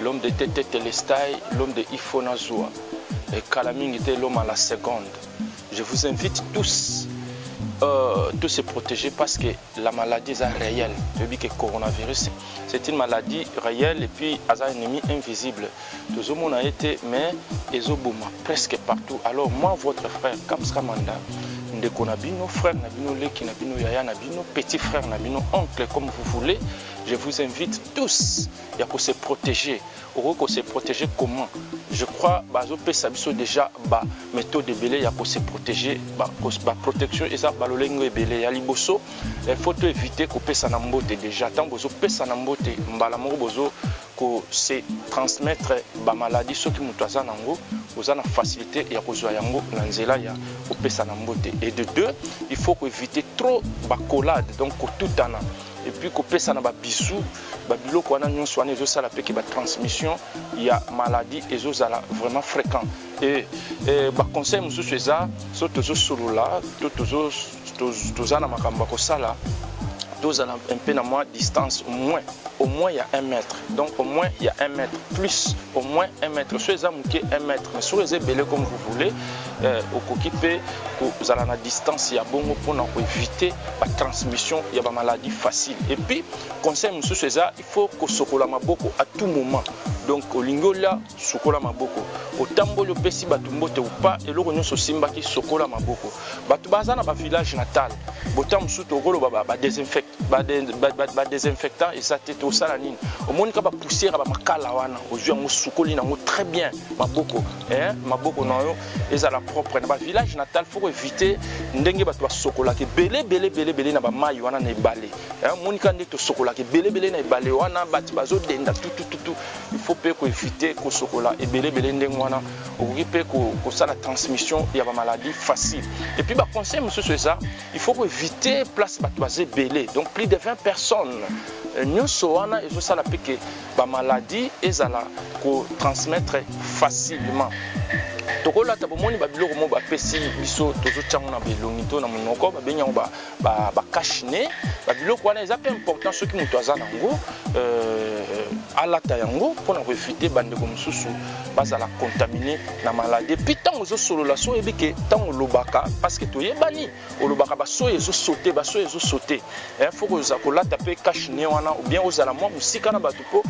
l'homme de tete telestai l'homme de ifo na zuwa ekala mingi te l'homme à la seconde je vous invite tous euh, tous se protéger parce que la maladie est réelle. Tu dis que le coronavirus, c'est une maladie réelle et puis un ennemi invisible. Tout le monde a été, mais ils ont presque partout. Alors moi, votre frère, Kamska Manda, ndeko na bino frère na bino leki na bino yaya na bino petit frère na bino oncle comme vous voulez Je vous invite tous ya ko se protéger. Okoki ko se protéger comment Je crois bazo pesa biso déjà ba méthode ebele ya ko se protéger ba, ba protection eza ba lolengo ebele ya liboso il faut to éviter ko pesa na mbote déjà tant bozo pesa na mbote mbala moko bozo ko se transmettre ba maladie soki moto aza nango oza na facilité ya kozwa yango na nzela ya kopesa na mbote et de deux il faut ko éviter trop ba collade donc kotutana et puis kopesana ba bisous ba biloko wana nyonso wana ezosala mpe ke ba transmission ya maladie ezozala vraiment fréquent e, e baconseil mosusu eza so tozosolola to toza na makambo ya kosala tozala un peu na mwa distance au moins au moins ya 1 mètre donc au moins ya 1 mètre plus au moins 1 mètre so eza moke 1 mètre mais soki eza ebele comme vous voulez eh, okoki mpe kozala na distance ya bongo mpona koevite batransmission ya bamaladi facile epuis conseil mosusu eza il faut kosokola maboko à tout moment donc olingi olia sukola maboko otamboli opesi bato mbote upa eloko nyonso osimbaki sokola maboko bato baza na bavillage natal botango mosusu tokoloba badesinfectant eza te tosala nini omonika bapoussière ya bamakala wana ozwi yango osukoli nango très bien maboko eh, maboko na yo ezala propre na bavillage natal foko éviter ndenge bato basokolaka ebele bele bele bele na bamai wana na ebale eh, monika nde tosokolaka ebele bele na ebale wana bato bazodenda tutututu il faut mpe koevite kosokola ebele bele ndenge wana okoki mpe kosala transmission ya bamaladie facile et puis baconseil mosusu eza il faut koevite place bato baza ebele donc plus de 20 personnes eh, nyonso wana ezosala mpe ke ba maladie ezala ko transmettre facilement tokolata bomoni babiloko moko bapesi biso tozotyango na belongi to na monoko babengi yango bakache ne babiloko wana eza mpe important soki moto aza na yango euh, alata yango mpo na koevite bandeko mosusu bazala contamine na maladi epuis ntango ozosolola so oyebi ke ntango olobaka parceke toyebani olobaka basoyi ezo saute basoyi ezo saute eh, fo kozala kolata mpe cache nie wana obien ozala mwa mosika na bato mpo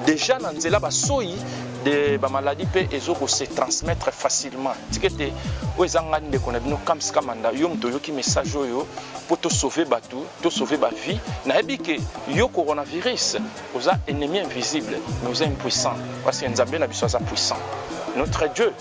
deja na nzela basoyi de bamaladi mpe ezo kose transmettre facilement tika ete oyo eza ngai ndeko na bino kams kamanda yo moto oyoki message oyo mpo tosauve bato tosauve bavie nayebi ke yo coronavirus oza ennemi invisible mais oza impuissant parce que nzambe na biso aza puissant notre dieu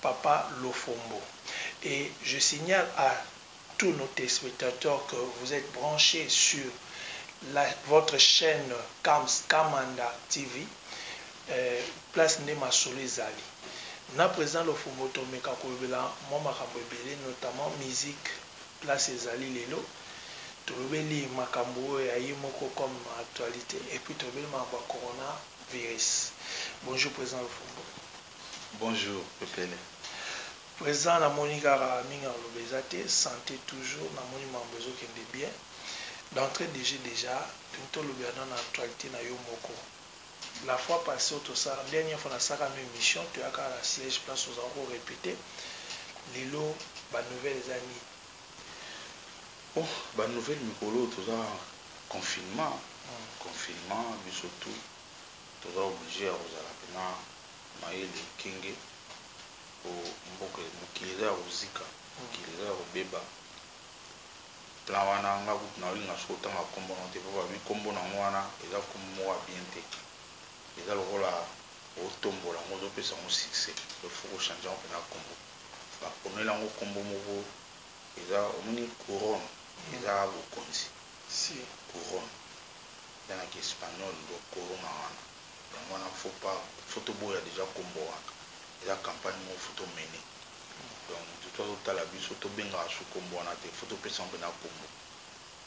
Papa Lofombo et je signale à tous nos telespectateurs que vous etes branche sur la votre chaine Kams Kamanda TV place nde masolo ezali na president Lofombo tomeka kolobela mwa makambo ebele notamment musique place ezali lelo tolobeli makambo oyo ya ye moko comme actualite et puis tolobeli makambo ya Corona virus bonjour president Lofombo. Bonjour pepele president na moni kaka mingi ya koloba eza te sante toujours na moni mambo ezo kende bien d'entre de jeu dejà tolingi to lobela nanu actualite na yo moko la fois passe oyo to sala dernière fois na salaka no emission to ya kaka na siège place ozalaka ko repete lelo ba nouvelle eza nini oh ba nouvelle mikolo oyo toza confinement confinement biso tout Toza oblige ya kozala pena mayele ekenge po mboka mokili eza ya kozika mokili eza ya kobeba plan wana nga kutu na olinga soki otanga kombo na yo te po ba lobi kombo na ngo wana eza kombo moko ya bien te eza lokola otombola ngo ozo pesa ngo succès donc faut ko change yango pena kombo ba ponela ngo kombo moko eza omoni couronne eza bokonzi couronne eza na ki espagnol nde okoroma wana yango wana faut pas faut toboya dejà kombo wana eza campagne moko faut to mener donc mutu tout azo tala biso to bengaka su kombo wana te faut topesa yango penza kombo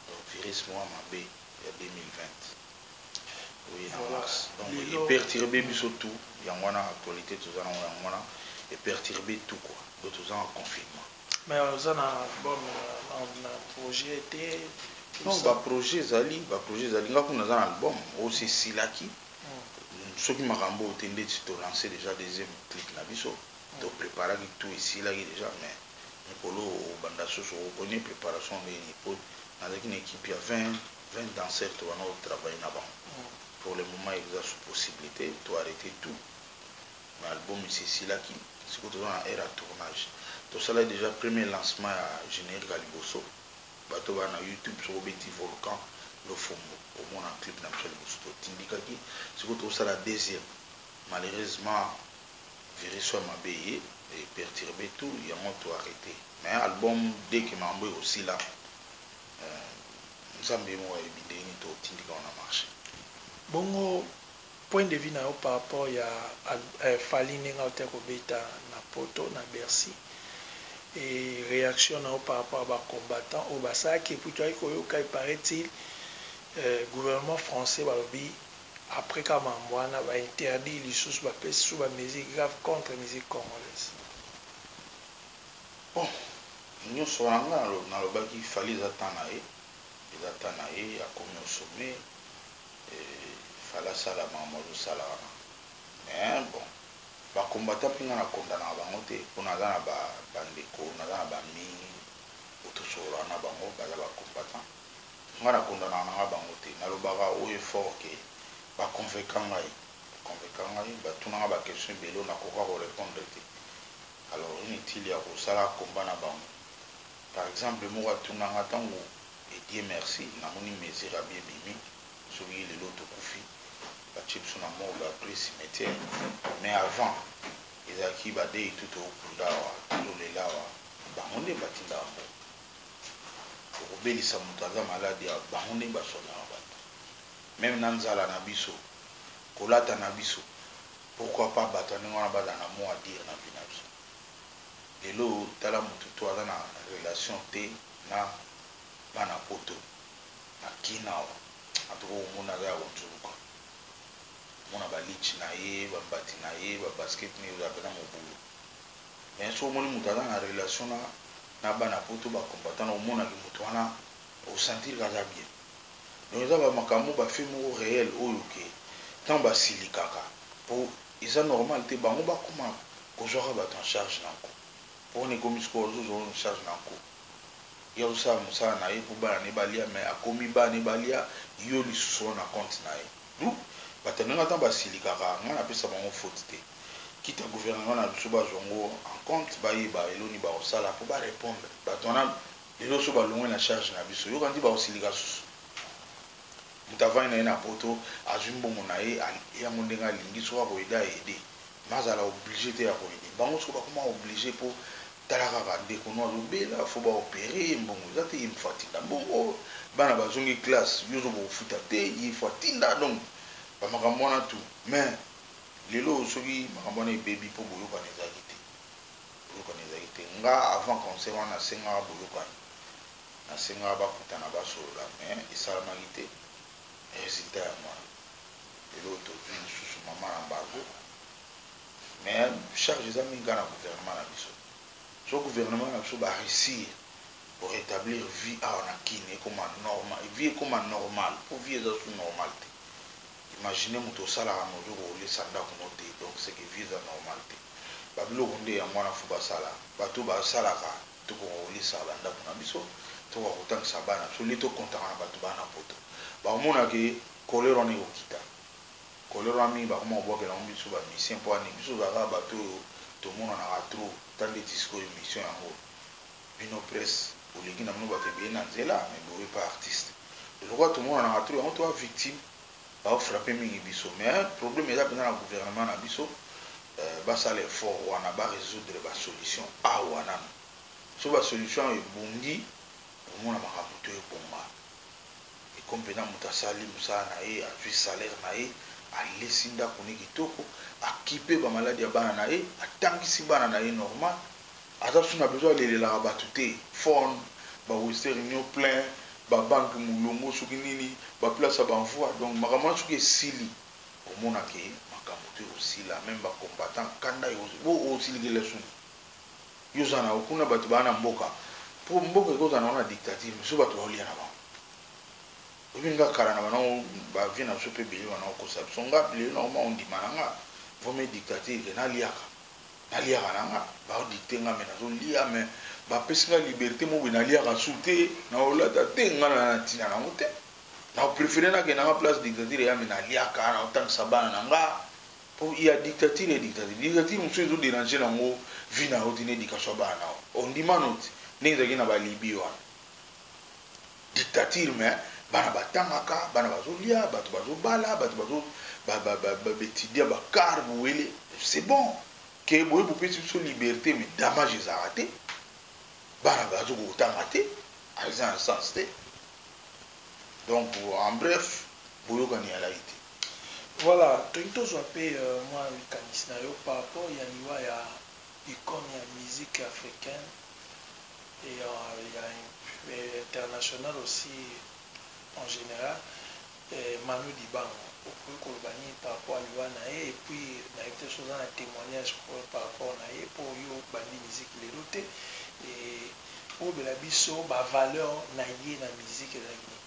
donc virus moko ya mabe ya 2020 oye na mars donc e perturbe biso tout yango wana actualite toza nango yango wana e perturbe tout quoi donc toza en confinement. Mais oza na album na projet te? Non ba projet ezali ba projet ezali nga kuna naza na album oyo se esilaki soki makambo oyo te ndeti to lance dejà deuxième clip na biso to preparaki tout esilaki dejà mais mokolo oyo obanda susu o connait preparation ndenge nini po nazalaki na equipe ya 20 20 danseurs tobandaki ko travailler na bango pour le moment eza possible te to arreter tout Ba album esi esilaki sikoyo toza na heure ya tournage tosala dejà premier lancement ya generique ya liboso batu oyo baza na youtube soki obeti volcan lofombo okomona clip na biso ya liboso totindikaki sikoyo tozosala deuxième malheureusement virus oyo ya mabe eye e perturbe tout yango to arreter mais album dès que makambo oyo ekosila euh nzambe ye moko ayebi ndenge nini tokotindika yango na marche. Bongo Point de vue na yo par rapport ya Fally ndenge awuti ko beta na poto na Bercy et reaction na yo par rapport ya ba combattants oyo ba salaki et puis toyaki ko yoka il parait-il gouvernement français ba lobi après kaka makambo wana ba interdire lisusu ba pesi lisusu ba mesures graves contre musique congolaise. Bon na nionso wana nga na lobaki Fally eza temps na ye eza temps na ye akomi au sommet Il fallait asala makambo azo sala wana mais bon ba combattants pe nga na condamnaka bango te po naza na ba ndeko naza na ba ami oyo to sololaka na bango baza ba combattants nga na condamnaka nanga bango te na lobaka haut et fort que ba convequa ngai ba convequa ngai ba tuna nga ba questions ebele oyo na koka ko repondre te alors inutile ya ko sala combat na bango par exemple moko atuna nga tangu Et Dieu merci namoni mesure ya bien ebimi soki lelo tokufi batie biso na morgue après cimetière mais avant ezalaki ba deyi tout tokunda awa tozolela awa bango nde batindaka mbongo tokobelisa mutu aza malade awa bango nde ba soignaka batu meme na nzala na biso kolata na biso pourquoi pas batu ya ndenge wana bazala na mot à dire na vie na biso lelo tala mutu tout aza na relation te. na bana poto na kin awa en tout cas oyo omoni aza ya konzuluka omona ba litchi na ye ba mbati na ye ba basket nini ozala pena mobulu mais soki omoni moto aza na relation na na bana poto ba combattant na omona ki moto wana o sentir ka aza bien donc eza ba makambo ba fait moko reel oyo ke tango ba silikaka po eza normal te bango ba koma kozwaka bato en charge na nko Corona ekomi sikoyo azo zua en charge na nko. Ye azo sala musala na ye po bana na ye ba lia mais akomi bana na ye ba lia yo lisusu wana na compte na ye. D'où batu ya ndenge wana tango ba silikaka nga na pesa bango faute te. Quitte ya gouvernement na biso ba zua ngo en compte ba yeba elo nini bako sala po ba repondre batu wana lelo oyo soki ba longwe na charge na biso yo kanisi bako silika susu? Mutu avandi na ye na poto azui mbongo na ye a lia ngo ndenge alingi soki ako aide a aider. nazala oblige te ya ko aider bango sikoyo bakoma oblige po tala kaka ndeko no azo bela faut ba opere ye mbongo eza te ye faut atinda mbongo bana bazongi classe yo ozoko kofuta te ye faut atinda donc ba makambo wana tout mais lelo soki makambo wana ebebi po boyokani ezalaki te boyokani ezalaki te nga avant concert wana nasengaka boyokani nasengaka bakutana basolola mais esalamaki te. Resultat ya mwana lelo oyo tozui lisusu maman embargo mais charge eza mingi kaka na gouvernement na biso soki gouvernement na biso ba reussir ko retablir vie awa na kin ekoma normal vie ekoma normal po vie eza susu normal te imagine mutu osalaka mais ozo ko lisa ndaku no te donc ce que vie eza normal te ba biloko nde yango wana faut basala batu oyo ba salaka Tokoka kolisa ba ndaku na biso, tokoka kotangisa bana na biso au lieu to comptaka na batu baa na poto. Bakomona ke colere wana ekokita. Colere wana mingi bakoma kobwakela yango biso ba musiciens pona nini? Biso tozalaka kaka batu oyo tomonanaka trop ata ndeti sikoyo emission yango. Bino presse boleki na bino batu ebele na nzela mais boye pa artiste. Lokola tomonanaka trop yango toa victime. Bao frappe mingi biso mais problème eza penza na gouvernement na biso basala effort wana ba resoudre ba solution awa nanu soki ba solution awa ebongi okomona makambo to ebonga et comme penza moto asali mosala na ye azui salaire na ye alesi ndaku ne kitoko akipe ba maladi ya bana na ye atangisi bana na ye normal Aza suna besoin alelelaka batu te phone ba western union plein ba banque mulongo soki nini ba place ya ba envoi donc makambo wana soki esili okomona ke makambo to ekosila meme ba combattants kanda ekosila po osilikela soni yo oza na yo kuna batu baza na mboka po mboka ekoki kozala na ngo na dictature mais soki batu bazo lia na bango oyebi nga kala na banda ngo ba vieux na biso pe ebele banda kokosa biso nga lelo nakoma kondima na nga vraimen dictature ke naliaka Naliaka na nga bazo dicter nga mais nazo lia mais ba pesi nga liberte moko boye naliaka sous te nao lata te nga naza na tina nango te nao prefere na kende na nga place dictature eya mais naliaka nao tangisa bana na nga po il ya dictature et dictature dictature mosusu ezo deranger nango vie na yo te na education ya bana nao ondima nao te ndenge ezalaki na ba libye wana dictature mais bana batangaka bana bazolia bato bazobala bato bazo baetudia ba car bowele c'est bon ke boye bopesi biso liberté mais damage ezalaka te bana bazokoka kotanga te eza na sens te donc en bref boyokani ezalaki te Voilà, tolingi tozwa mpe euh, mwa likanisi na yo par rapport ya liwa ya icone ya musique africaine ya international aussi en general Manu Dibango okoki koloba nini par rapport ya liwa na ye et puis nayebi te soki oza na temoignage par rapport na ye po yo obandi musique lelo te et olobela biso ba valeurs na ye na musique ezalaki nini?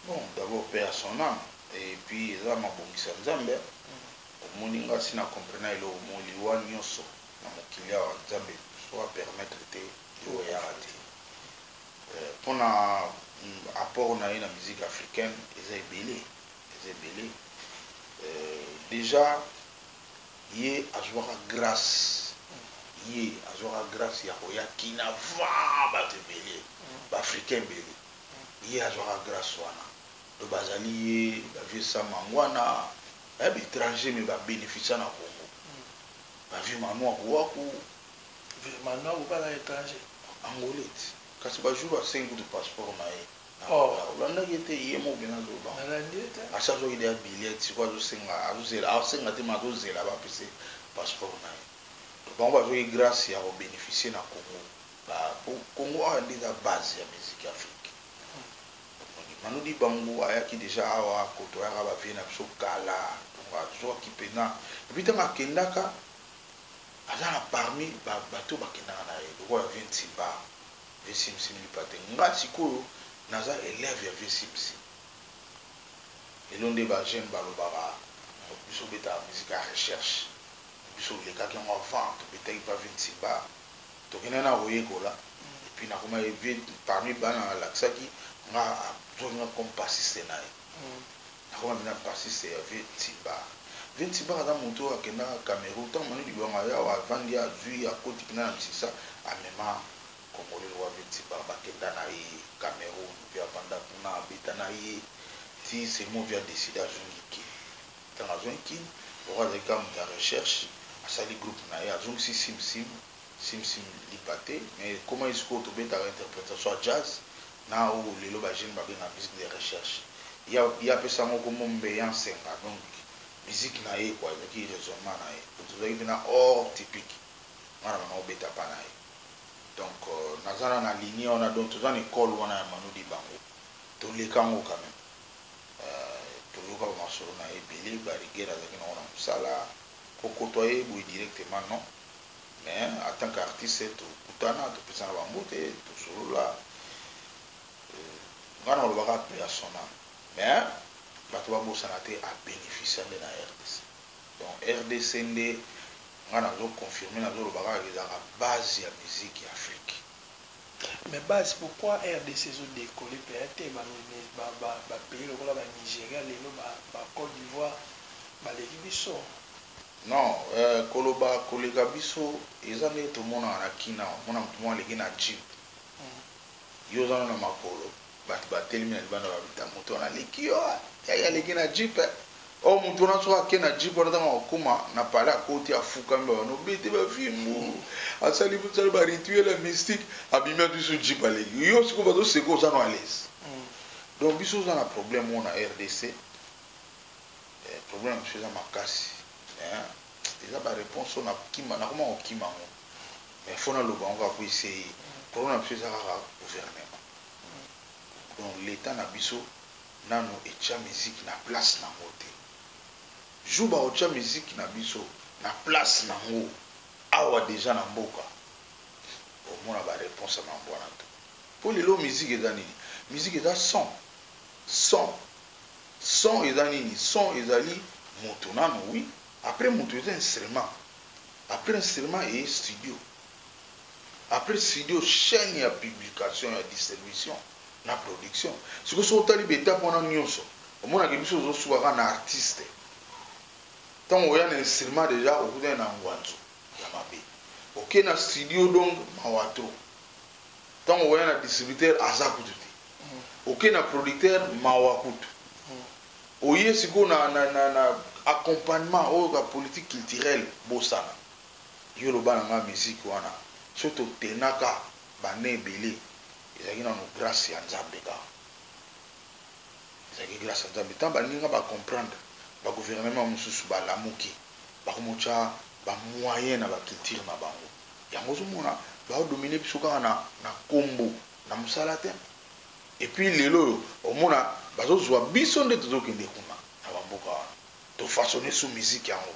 Bon d'abord paix à son ame et puis eza mabongisi ya Nzambe omoni nga si na comprena eloko moko liwa nioso na mokili awa nzambe soit a permettre te yo oyaka te euh, pona apport na ye na musique africaine eza ebele eza ebele euh, deja ye azwaka grâce ye azwaka grâce ya koya kina va bato ebele baafricain ebele ye azwaka grâce wana to bazali ye bavieux samangwana eh, baétranger me babénéficia na congo Ba vieux manua buaku vieux manua kobala etranger angolais kasi ba jour asengi kutu passeport na ye oh olandaki ye te ye moko penza zoba nalandi ye te asi azuaki deja billet sikoyo azo senga azo zela azo senga te mais azo zela ba pesa ye passeport na ye donc bango bazuaki grace ya ko beneficier na congo ba po congo awa nde eza base ya musique ya afrique. Omoni Manu Dibangu ayaki dejà awa a cotoyaka ba vieux na biso kala donc azuaki pena et puis tango akendaka aza na parmi ba batu oyo bakendaka na ye lokola vieux Nsimba, vieux Sim Sim Lipate nga sikoyo naza elève ya vieux Sim Sim lelo nde ba jeunes balobaka biso obetaka musique ya recherche mais biso olekaki yango avant tobetaki pa vieux Nsimba. tokendaki na koyekola et puis nakomaki parmi bana alakisaki nga azwaki nga comme bassiste na ye nakoma mpenza bassiste ya vieux Timbar vieux Timbar aza moto oyo akendaka Cameroun ntango Manu Dibango aye awa avandi azwi akoti mpenza na misisa amema congolais lokola vieux Timbar bakenda na ye Cameroun puis avanda kuna abeta na ye ti Semovia decide azongi kin Tango azongi kin lokola azali kaka moto ya recherche asali groupe na ye azongisi sim sim sim sim lipa te mais ekomaki sikoyo tobetaka interpretation ya jazz na oyo lelo ba jeunes babengaka musique de recherche ye ye apesa yango kombo Mbeya Nsenga donc musique na ye quoi ezalaki raisonnement na ye donc ezalaki pena hors typique nga na bandaki kobeta pa na ye donc naza na na lignee wana donc toza na ecole wana ya Manu Dibango toleka yango quand meme. toyokaka masolo naye ebele ba rigueur azalaki nango na musala ko cotoyer ye boye directement non mais en tant qu'artiste tokutana topesana ba mbote tosolola nga nakoloba kaka paix à son ame mais batu babosana te a beneficia nde na rdc donc rdc nde nga nazo confirmer nazoloba kaka ezalaka base ya musique ya Afrique. Mais base pourquoi rdc ezo decoller pea te ba ba pays lokola ba Nigeria lelo ba ba cote d'ivoire baleki biso. Non euh koloba koleka biso eza ndenge tomonaka na kin awa omona mutu moko aleki na jeep yo oza nanu na makolo. Batu ba telemi na libanda ba luta mutu wana aleki yo eh yaya aleki na jeep eh oh mutu wana soki ake na jeep wana tango akokoma na palais akoti afukami ba banda obete ba fimbu asali musala ba rituel ya mystique abimi atui sous jeep aleki yo sikoyo bazo seka oza no alaise donc biso oza na problème oyo na rdc eh, problème na biso eza makasi eh, eza ba réponse oyo nakima nakoma kokima yango Mais faut na loba yango kaka po essaye problème na biso eza kaka gouvernement donc l'etat na biso nanu etia musique na place na ngo te jour bako tia musique na biso na place na ngo awa dejà na mboka boko mona ba reponse ya mambo wana tout po lelo musique eza nini musique eza son son son eza nini son ezali moto nanu oui après moto eza instrument Après instrument eye studio. Après studio chaine ya publication ya distribution na production. Sikoyo soki otali ba etape wana nionso omona ke biso tozo suka kaka na artiste. Tango oya na instrument dejà okutani na ngwanzu ya mabe. Oke na studio donc mawa trop. Tango oya na distributeur aza kutu te. Oke na producteur mawa kutu. Oye sikoyo na na na na accompagnement oyo ka politique culturelle bosana yo loba na nga musique wana soki to tenaka b'annees ebele ezalaki nanu grace ya nzambe kaka ezalaki grace ya nzambe tant baninga ba comprendre ba gouvernement mususu ba lamuki ba komo tia ba moyen na ba culture na bango yango ozo mona bao dominer biso kaka na na kombo na musala te. Et puis lelo oyo omona bazo zua biso nde tozo kende kuna na ba mboka wana to façonne sous musique yango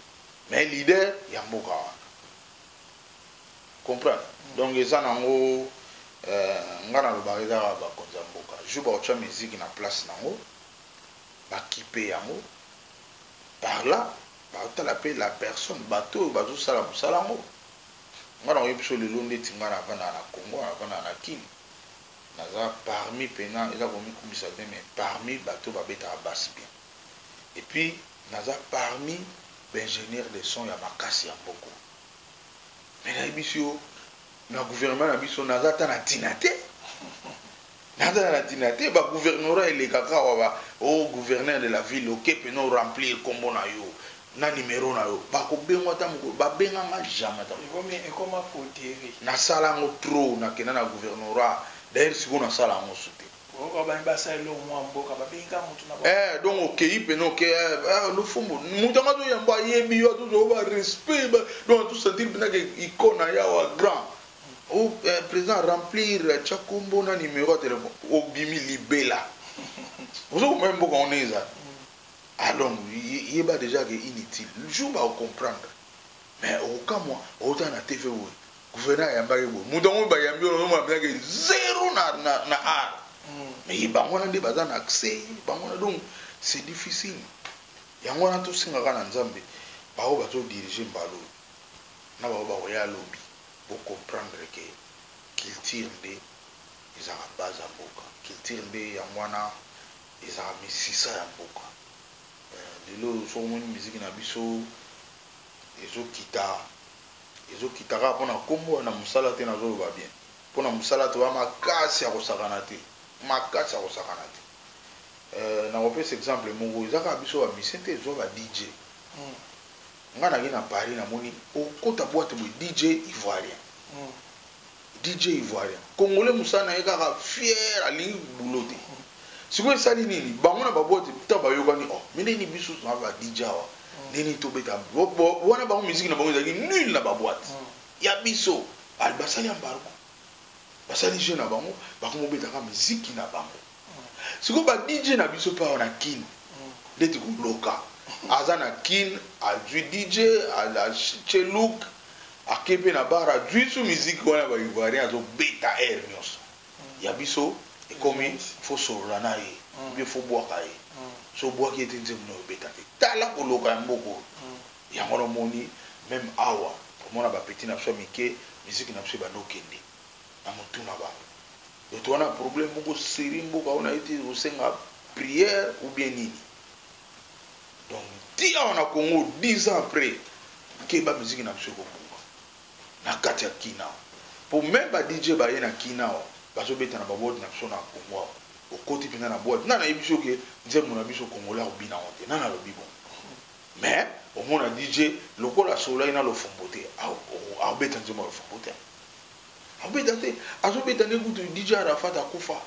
mais leader ya mboka wana comprendre donc eza na ngo nga na lobaka eza kaka ba konzi ya mboka jour bako tia musique na place na ngo ba kipe yango par là bako tala pe la personne bato oyo bazo sala musala ngo nga nako yebisa yo lelo ndeti nga na vandaka na Congo na vandaka na kin Naza parmi pena eza komikumisa te mais parmi bato oyo babetaka basse bien et puis naza parmi b'ingenieur de son ya makasi ya mboko mais nayebisi yo na gouvernement na biso naza ata na tina te naza na tina te ba gouvernorat elekaka awa ba o oh, gouverneur de la ville oke pena o remplir kombo na yo na numero na yo bako bengo ata mokolo ba benga nga jamais ata mokolo ekoma coterie na sala yango trop na kenda na gouvernorat d'ailleurs sikoyo na sala yango su te oyoka ba ba sala eloko mwa mboka ba bengi ka mutu na ba eh donc okeyi pe no ke eh lufumbu mutu nga to yamba ayebi yo to zo ba respect ba donc to sentir pena ke icon na ya wa grand ou eh, president remplir cha kombo na numero ya telephone obimi libela ozo ko mboka on eza Alon yeba dejà que inutile jour bako comprendre mais okokamwa owutaka na TV boye gouverneur ayambaka ye boye mutu yango bayambi yo ozomona penza que zero na na art mais bango wana nde baza na accès bango wana donc c'est difficile yango wana tosenga kaka na Nzambe baoyo bazo diriger mbala oyo na baoyo bakoya lobi bo comprendre que culture nde ezalaka base ya mboka culture nde yango wana Ezalaka misisa ya mboka eh. Lelo soki omoni musique na biso ezo kita ezo kita kaka pona kombo eh, na musala te nazo loba bien pona musala toza makasi ya kosakana te makasi ya kosakana te eh, nako pesa exemple moko eza kaka biso ba musicien te zua ba DJ eh, nga nake na Paris namoni okota boite boye DJ ivoirien eh, DJ ivoirien congolais musala naye kaka fier alingi boulot te sikoyo esali nini bango na ba boite ta bayokani oh mais nde ni biso na ba DJ awa nini tobeta wana bango musique na bango ezalaki nul na ba boite ya biso basali embargo basali jeu na bango bakomi kobetaka musique na bango Sikoyo ba DJ na biso pe awa na kin ndeti koloka aza na kin azui DJ atie look ake pe na bar azui su musique wana ba ivoirien azo beta heure nionso ya biso ekomi faut solola na ye ou bien faut bwaka ye soki obwaki ye te nzembo nayo ebeta te tala koloka ya mboka oyo yango wana omoni meme awa omona ba petit na biso ya mike musique na biso ebandi okende na mutu na bango. Mutu wana problème moko serie mboka wana ye te kosenga prière ou bien nini donc ti awa na Congo 10 ans après keba musique na biso ekobunga na kati ya kin awa po meme ba DJ baye na kin awa bazobeta na ba boite na biso na Congo awa okoti mpenza na boite nani ayebisi yo ke nzembo na biso congolais akobina yango te nani alobi bongo mais omona DJ lokola asololaki na lofombo te akobeta nzembo ya lofombo te Abeta te azo beta nde kutu DJ Arafat akufa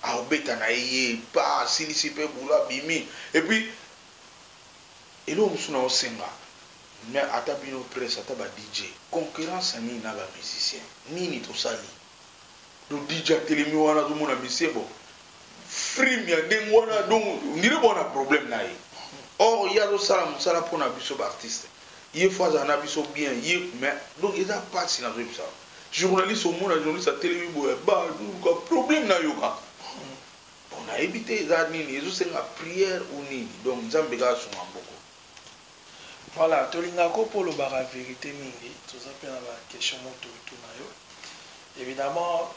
Ako beta na ye ye epa asilisi pe boulot abimi et puis eloko mosusu nao senga mais ata bino presse ata ba DJ concurrence ya nini na ba musiciens nini tosali Donc DJ atelemi wana azomona monsieur bon frime ya ndenge wana donc on dirait bon na problème na ye or ye azosala mosala mpo na biso baartiste ye fo azala na biso bien ye mais donc eza mpasi nazoyebisa journaliste omona journaliste atelemi boye baluka problème na yo kaka bon nayebi te eza nini ezosenga prière ou nini donc nzambe kaka sunga mboko Voilà tolingaka yo po olobaka verite mingi toza pe na ba question moko tokotuna yo evidemment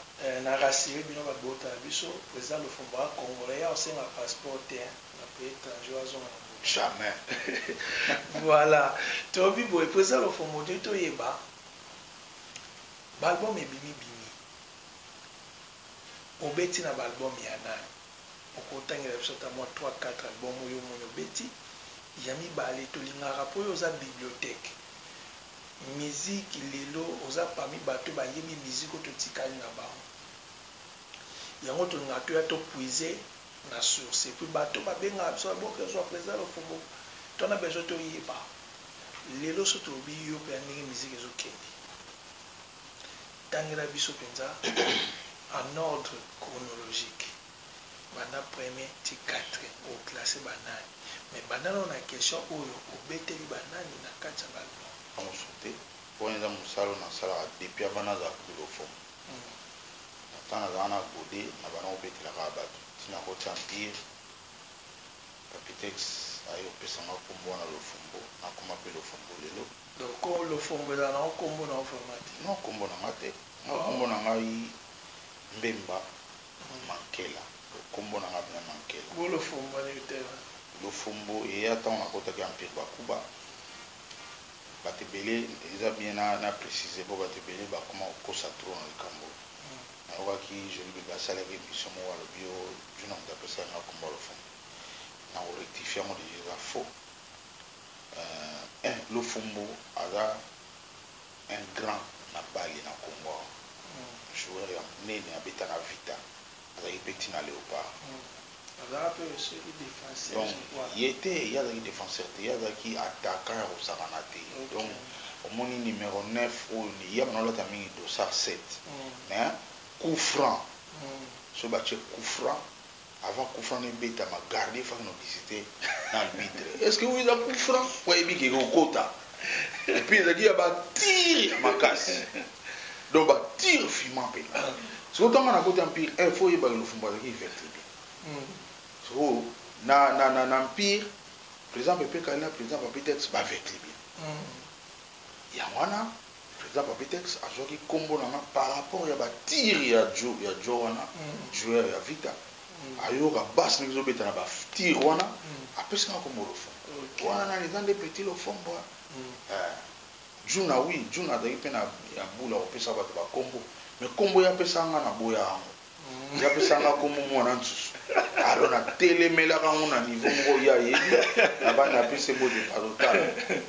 na rassure bino ba bota na biso president lofombo aza congolais ya kosenga passeport te hein na pays etranger oyo azonga na mboka jamais voilà tolobi boye president lofombo tolingi toyeba ba album ebimi bimi obeti na ba album ya nani? okotangela biso ata mwa trois quatre album oyo omoni obeti, ya mibale tolingaka mpo yo oza bibliothèque musique lelo oza parmi batu oyo bayebi musique oyo totikali na bango yango tolingaka toya to puise na source epuis batu oyo babengaka biso ba boke zua president lofombo to wana besoin toyeba lelo soki tolobi yo mpenza ndenge musique ezokende. Tangela biso penza en ordre chronologique banda premier ti quatrième o classe ba nani? Mais banda nanu na question oyo obeteli ba nani na kati ya ba album? Yango sote wana eza musala oyo nasalaka depuis avant nazala xylophone na temps nazalaka na gode na banda kobetela kaka batu ti nakoti empire papitex aye kopesa nga kombo wana lofombo nakoma pe lofombo lelo Donc ko lofombo ezala na ngo kombo na yo vraiment te? Non kombo na nga te nga kombo na ngai mbemba mankela donc kombo na nga vraiment mankela. Bo lofombo wana eutaki wapi? Lofombo eya tango na kotaki empire bakuba batu ebele eza bien na preciser po batu ebele ba koma ko kosa trop na likambo oyo na yokaki jolie bebe asalaki emission moko alobi oh djuna mutu apesaki nga kombo ya lofombo nako rectifier yango dejà eza faux. Eeh eeh lofumbu aza un grand na balle na congo awa joueur ya munene abeta na vita azalaki pe ti na leopard donc ye te ye azalaki defenseur te ye azalaki attaquant ya kosakana te donc omoni numero neuf oyo ye abanda kolata mingi dossard sept mais coup franc soki batie coup franc Avant coup franc ebetama gardien fanda na visite na arbitre est ce que oyo eza coup franc po ayebi ke ekokota et puis ezalaki ya ba tire ya makasi donc ba tire fima mpenza sikoyo ntango na koti empire eh, fo oyebake lofumbo azalaki ivertible hmm. sikoyo na, na, na, na empire président pepe kalina président papetex bavertible hmm. yango wana President Papitex azuaki kombo na nga par rapport ya ba tirs ya Djo, ya Djo wana joueur ya Vita, ayoka basse ndenge ezo beta na ba tirs wana, apesi nga kombo Lofongwa. Wana nani? Eza nde Petit Lofongwa eh! Djuna oui, Djuna azalaki pe na ya boule ya kopesa batu ba kombo, mais kombo ye apesaka nga naboyaka yango. ya pesa nga kombo mwana nsusu alors natelemelaka yango na niveau moko ye ayebi na banda apesa embo de palotala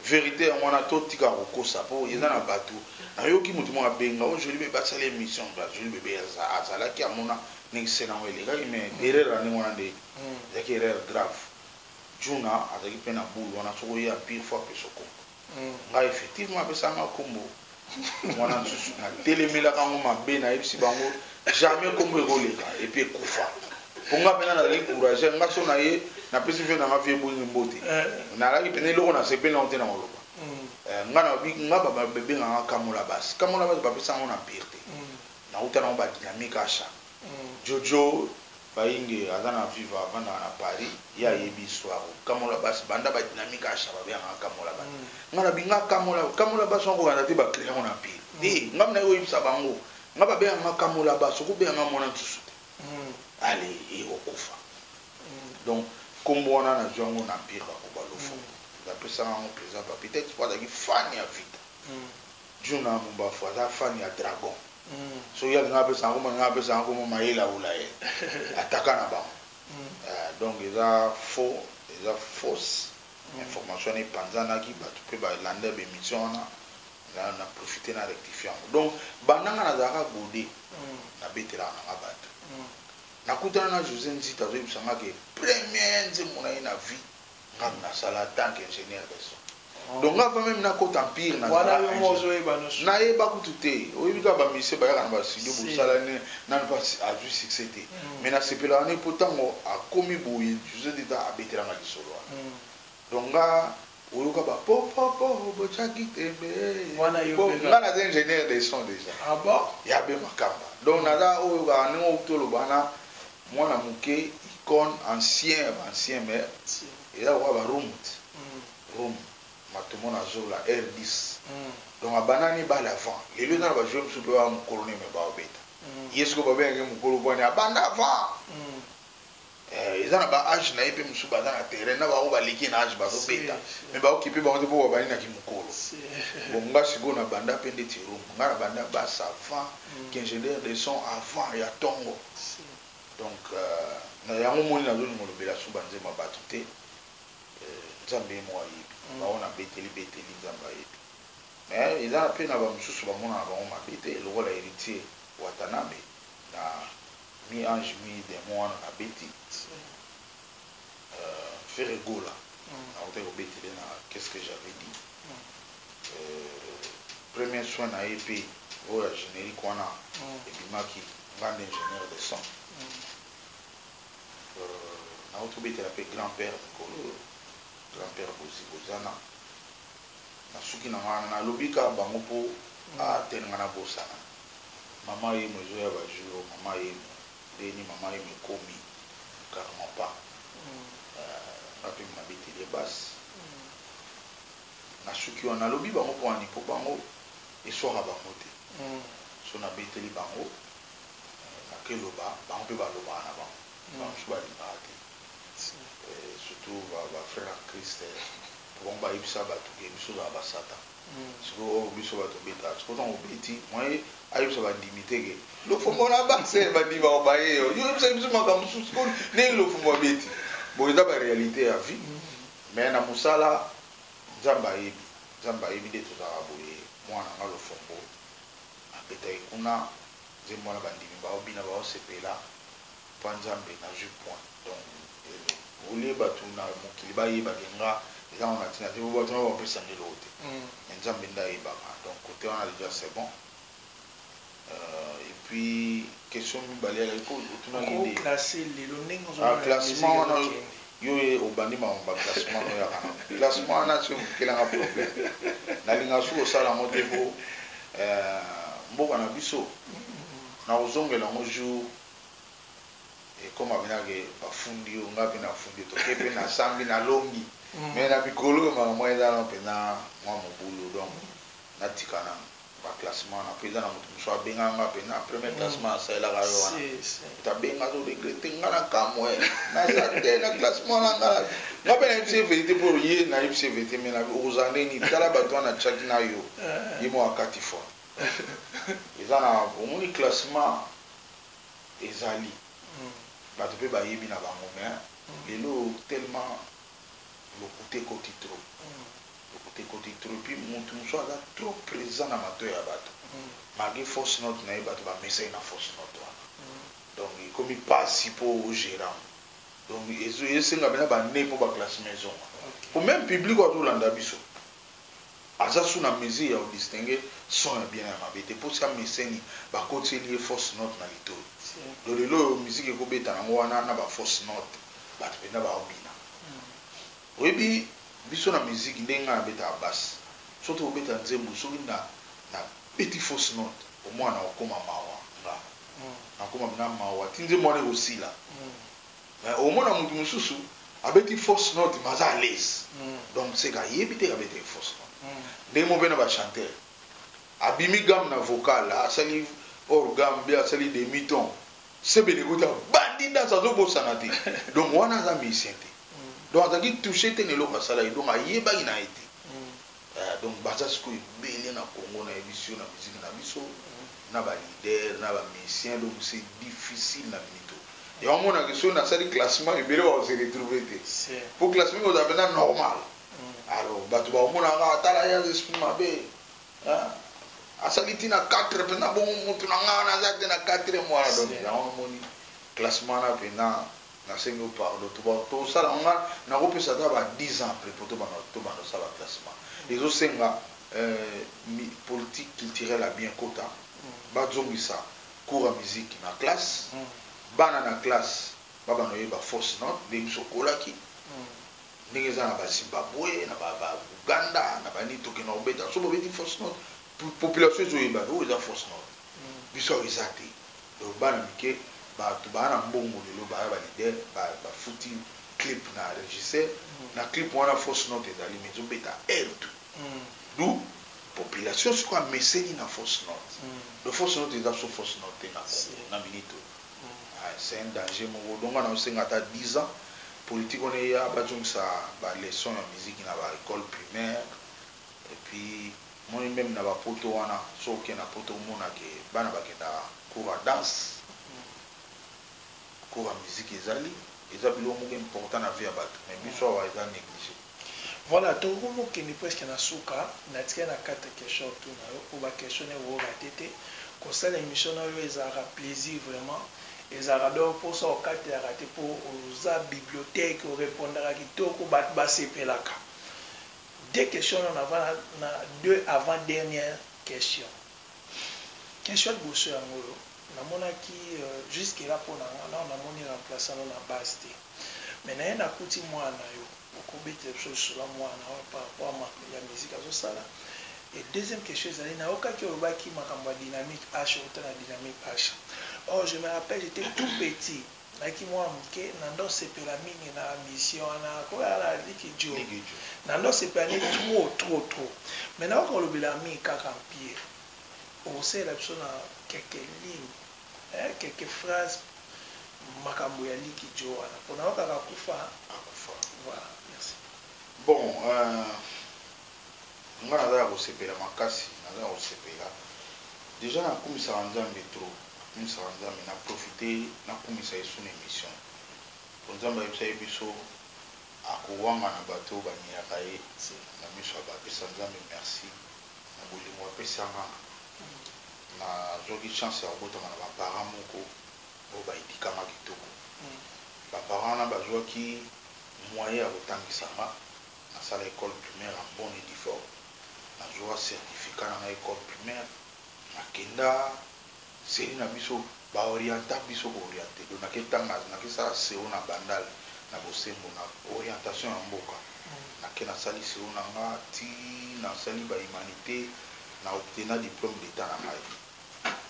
verité yango wana totika kokosa mpo eza na bato nayoki moto moko abenga o oh, joli bebe asala émission joli bebe azalaki amona ndenge sena yango elekaki mais erreur ya ndenge wana nde hmm. ezalaki erreur grave juna azalaki mpe na boule wana soki oye empire fo apesa okombo Ngai effectivement apesaka nga kombo muana mususu na telemelaka yango mabe na yebisi bango jamais kombo eko leka et puis ekufa po nga pena nazali courageur nga so na ye na pesi vieux na nga vieux boinge mbote na laki pena eloko na sepeli na ngo te na ko loba nga na lobi nga ba benga nga kamola bas kamola bas ba pesaka ngo na empire te na wuta na ngo ba dynamique asha djo djo Bayinge aza na viva avandaka na Paris ye ayebi histoire oyo kamola bass banda ba dynamique asha babengaka kamola bass nga na binga kamola kamola bass wana kobanda te ba crea ngo na empire te nga naye koyebisa bango nga babengaka nga kamola bass okobenga nga muana nsusu te allez yy okufa donc kombo wana nazwi yango na empire bakoba lofombo nde apesa nga yango president papy tete po azalaki fan ya vita djuna mumbafu aza fan ya dragon soki ye alinga apesa yango malinga apesa yango komo mayele awula ye ataka na bango hmm. eh, donc eza faux eza fausse hmm. information wana epanzanaki bato mpe balanda bemission wana na, na profite na rectifie yango donc bandanga nazalaka gode hmm. nabetelaka nanga bato nakutana na josé nzita azoyebisa nga ke premier nzembo na ye na vie Nga nasala atant que ingenieur de son donc nga avant meme nakota empire nazala ingenieur nayeba kutu te oyebi kaka ba musicien bayaka naba studio bosala ne nanu pe azui succès te mais nasepelaka ne po tangu akomi boye jesus dida abetela nga lisolo wana donc nga oyoka ba po po po bochaki tembe ee po nga naza ingenieur de son dejà ya be makamba donc naza oyo kaka ndenge toloba wana Mwana muke icone ancien ba ancien mais eza lokola ba rumd rum matomo na zola rdc donc abanda ne balle avant lelo eza na ba jouer mususu pe ba mukolo ne mais bao beta ye sikoyo ba bengaka ye mukolo po abanda avant eh eza na ba age naye pe mususu baza na terrain na ba oyo baleki ye na age bazo beta mais ba occupe bango te po babandi na ki mukolo bon nga sikoyo na banda pe ndeti rum nga na banda bas avant qu'ingenieur de son avant ya tongo donc na yango omoni nazo linga olobela su ba nzembo ya batu te nzambe ye moko ayebi bango na beteli beteli nzambe ayebi mais eza pe na ba mususu ba monaka bango mabe te lokola heritier watanabe na mi ange mi demon wana na beti ferre gola na kutaki ko betele na qu'est ce que j'avais dit premier soin na EP oyo ya generique wana ebimaki nga nde ingenieur de son nauti kobetela mpe grand père mikolo oyo grand père bozi bozana nasuki na nga wana nalobi kaka bango mpo atelenga nabosana mama yemo ezoya ba jour mama yemo Ndeni maman yo mikomi carrement pas nga pe nabeteli ye base nasuki wana nalobi bango pona ni po bango eswaka bango te soki nabeteli bango nake loba bango pe balobaka na bango ba mususu balingaka te surtout ba frère en christ po bango bayebisa batu ke biso tozalaka ba satan. sikoyo oyo biso bato obetaka sikoyo ntango obeti mwaye ayebisa bandimi te ke lofombo na base bandimi bakobaye yo oyebisa biso makambo mosusu sikoyo ndenge lofombo abeti boye eza barealité ya vie mais na mosala nzambe ayebi nzambe ayebi nde tozalaka boye mwana nga lofombo abetaki kuna nzembo wana bandimi baobina baosepela Papa nzambe nazui point donc au lieu batu na mokili ba yeba ke nga eza ngo na tina te po batu na ba pesa nga eloko te mais nzambe nde ayebaka donc cote wana dejà c'est bon et puis question mibale alaki ko otuna ki nde ah classement wana yo ye obandi makambo ba classement no yaka na classement wana soki mokela nga problème na linga soki osala ngo te po mboka na biso na kozongela ngo jour ekoma pena ke bafundi yo nga pe na fundi yo toke pe na sambi na lombi mais na mikolo oyo makambo wana eza nanu pena mua mobulu donc na tika nanu ba classement wana po eza na mutu mususu abenga nga pena premier classement na salelaka yo wana mutu abenga azo regrette nga na kamue naza te na classement wana nga nga pe na yebisi ye verite po ye na yebisi ye verite mais na okozala ndenge nini tala batu wana na tiaki na yo ye moko akati fort Eza na omoni classement ezali batu pe bayebi na bango mais lelo tellement lokuta ekoti trop lokuta ekoti trop et puis mutu mosusu aza trop present na matoyi ya batu malgre fausse note na ye batu ba mesani na fausse note wana donc ekomi pasi po o gerer yango donc ezo ezo senga penza ba annee po ba classement ezonga po meme public oyo azo landa biso Aza sous na mesure ya ko distinguer son ya bien na ya mabe te po siaa meseni ba kotiseli ye fausse note na litoyi donc lelo oyo musique eko beta na ngo wana na ba fausse note batu penza bao bina oyebi biso na musique ndenge nga na betaka basse soki toko beta nzembo soki na na beti fausse note omona nako koma mawa nga nako koma penza mawa ti nzembo wana eko sila. Mais omona mutu mususu abeti fausse note mais aza alaise donc ce que ayebi te abetaki fausse note ndenge moko pe na ba chanteur abimi gamme na vocal asali hors gamme bien asali demi ton sebene ekoti abandi danse azo bosana te donc wana aza musicien te donc azalaki touche te na eloko asalaki donc ayebaki naye te. Eeh donc baza sikoyo ebele na Congo na yebisi yo na musique na biso na ba leader na ba musicien donc c'est difficile na mito yango omona que soki na sali classement ebele bako se retrouver te po classement ekozala penza normal alors batu bako mona kaka tala ye aza esprit mabe eeh asali ti na quatre penza bongo mutu na nga wana aza te na quatrième wana donc yango omoni classement wana penza Na sengi yo pardon to sala nga na ko pesa ata ba 10 ans après po to banda to banda ko sala classement ezo senga euh politique culturelle ya bien kota ba zongisa cours ya musique na classe bana na classe ba banda ko yeba fausse note ndenge biso to kolaki ndenge eza na ba Zimbabwe na ba ba Uganda na ba nini to kenda ko beta soki ba beti fausse note population ezo yeba oyo eza fausse note biso awa eza te donc bana mike batu baa na mbongo lelo baya ba leader ba futi clip na regisseur na clip wana fausse note ezali mais ezo beta heure tout d'où population sikoyo ameseni na fausse note donc fausse note eza biso fausse note te na congo na minute oyo c'est un danger moko donc nga nazo senga ata 10 ans politique wana eya ba zongisa ba leçon ya musique na ba ecole primaire et puis Omoni meme na ba poto wana soki oke na poto omona ke bana bakendaka cours ya danse cours ya musique ezali eza biloko moko important na vie ya batu mais biso awa eza neglige. Voilà tokomi kokende presque na suka natikali na quatre questions otuna yo po ba questions nayo oko rate te kosala emission na yo ezalaka plaisir vraiment ezalaka donc posa okatelaka te po oza bibliothèque o repondaka kitoko batu basepelaka Deux questions wana na va na deux avant dernière question. Question ya liboso yango oyo, na monaki jusque là pona nga nao na moni remplaçant no na base te mais naye na kuti muana yo oko betela biso lisolo ya muana oyo par rapport makambo ya musique azo sala et deuxième question ezali na yokaki olobaki makambo ya dynamique H owuta na dynamique H or je me rappelle j'etais tout petit Nalaki mua muke nando sepela mingi na mission wana koya na liki djo nando sepela nde trop trop trop mais naoki kolobela mingi kaka mpie okosalela biso na quelques lignes eh quelques phrases makambo ya liki djo wana pona yokaka kufa akufa voilà merci. Bon euh. Nga naza ya kosepela makasi naza ya kosepela dejà na kumisaka nzambe trop na kumisaka nzambe na profite na kumisa ye sous na emission po nzambe ayebisaki biso ako wangana batu oyo ba niyaka ye na miso ya ba pesa nzambe merci na bolingo apesa nga na zwaki chance ya kobotama na ba parents moko oyo ba educa nga kitoko ba parents wana ba zwaki moyen ya kotangisa nga Nasala ecole primaire en bonne et due forme, nazua certificat na ngai ecole primaire, nakenda CENI na biso ba orienta biso ko oriente donc nake tanga nake sala CO na bandal na bosembo na orientation ya mboka, nake nasali CO na nga ti nasali ba humanite na obtena diplome d'etat na ngai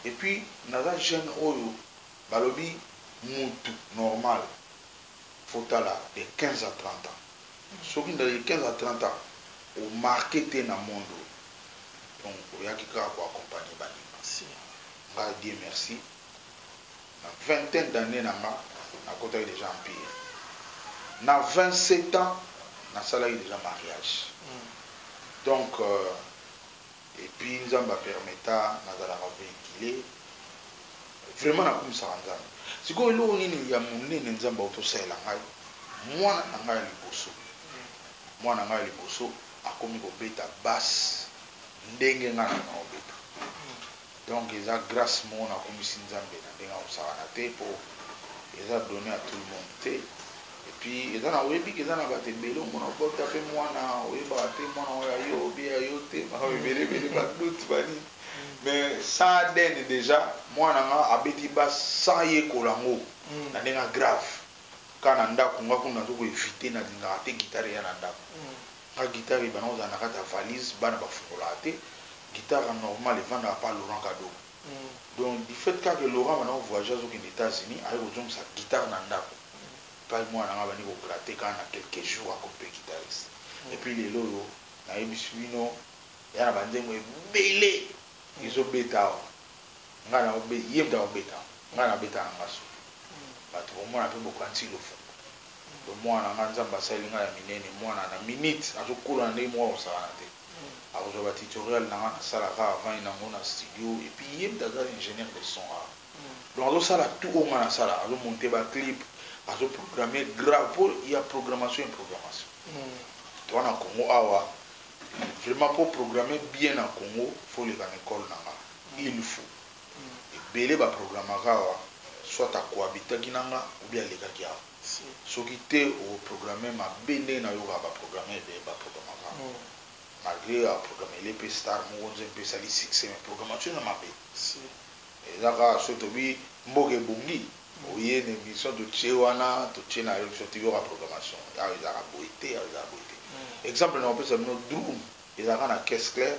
et puis naza jeune oyo balobi mutu normal faut tala de 15 à 30 ans. Soki ndaleli 15 à 30 ans o marquer te na monde oyo donc oyaki kaka ko accompagner ba limanciens. Nga Dieu merci na vingtaine d'annees na nga nakotaki dejà empire. Na 27 ans nasalaki dejà mariage donc Et puis nzambe a permeta nazalaka vehicule vraiment nakumisaka nzambe sikoyo eloko nini ya munene nzambe awuti osalela ngai muana na ngai ya liboso muana na ngai ya liboso akomi kobeta basse ndenge ngai naza nakobeta Donc eza grace moko na kumisi nzambe na ndenge akosakana te po eza donne a tout le monde te et puis eza na oyebi ke eza na batu ebele omona obota pe mwana oyebaka te mwana ngo ya yo obi ya yo te makambo ebele ebele ba doute ba nini mais sans adn dejà mwana nga abeti bas sans yekola ngo na ndenge ya grave kaka na ndaku nga kuna nazo ko eviter na lingaka te guitare eya na ndaku Nga guitare ebanda kozala na kati ya valise bana ba fungolaka te guitare ya normal evandaka pa Laurent kado donc du fait kaka que Laurent abanda ko voyager azo kende etats unis aye kozongisa guitare na ndaku epayi muana nanga abandi ko gratter kaka na quelques jours akomi pe guitariste et puis lelo oyo na yebisi bino eza na ba nzembo ebele ezo beta awa nga nazo beta ye mutu azo beta yango nga na beta na nga soki batu bomona pe bokanisi lofundu. Donc mwana na nga nzambe asaleli nga ya minene mwana na minute azo kola na ndenge moko ako sakana te ako zua ba tutorial na nga na sala kaka avandi na ngo na studio et puis ye mutu aza ingenieur de son awa donc azo sala tout oyo nga na salaka azo monte ba clip azo programme grave po ya programmation et programmation toza na congo awa vraiment po programme bien na congo faut oleka na ecole na nga il faut ebele ba programmaka awa soit a cohabitaki na nga ou bien alekaki awa soki te oko programmer mabe ndenge na yokaka ba programmeur ebele ba programmaka awa malgre a programmele pe star moko nzembo pe esali succès mais programmation eza mabe eza kaka soki tolobi mboka ebongi oye na emission totie wana totie na yo soit toyoka programmation awa ezalaka boye te awa ezalaka boye te exemple nako pesa bino Droum ezalaka na caisse claire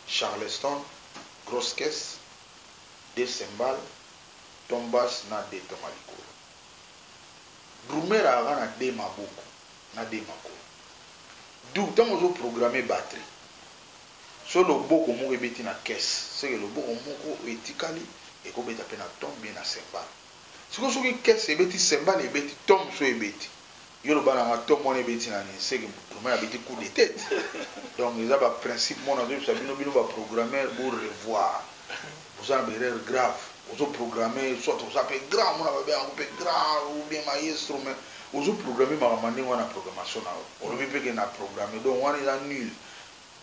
Charleston, Grosse Caisse, Deux Cymbales, Ton Basse na Deux Toma Likolo. Drummer ayaka na deux maboko na deux makolo. D'où tango ozo programmer batterie, soki loboko moko ebeti na caisse, seke loboko moko oyo etikali eko beta pe na Tom bien na Cymbales. Sikoyo soki caisse ebeti cymbale ebeti tom so ebeti yo loba na nga tom wana ebeti na nini seke mbutumen abeti coup de tete donc eza ba principe moko nazo yebisa bino bino ba programmeur bo revoir boza na ba erreur grave ozo programme soit oza pe grand omona ba benga ngo pe grand ou bien maestro mais ozo programme makambo ya ndenge wana na programmation na yo olobi pe ke na programme donc wana eza nul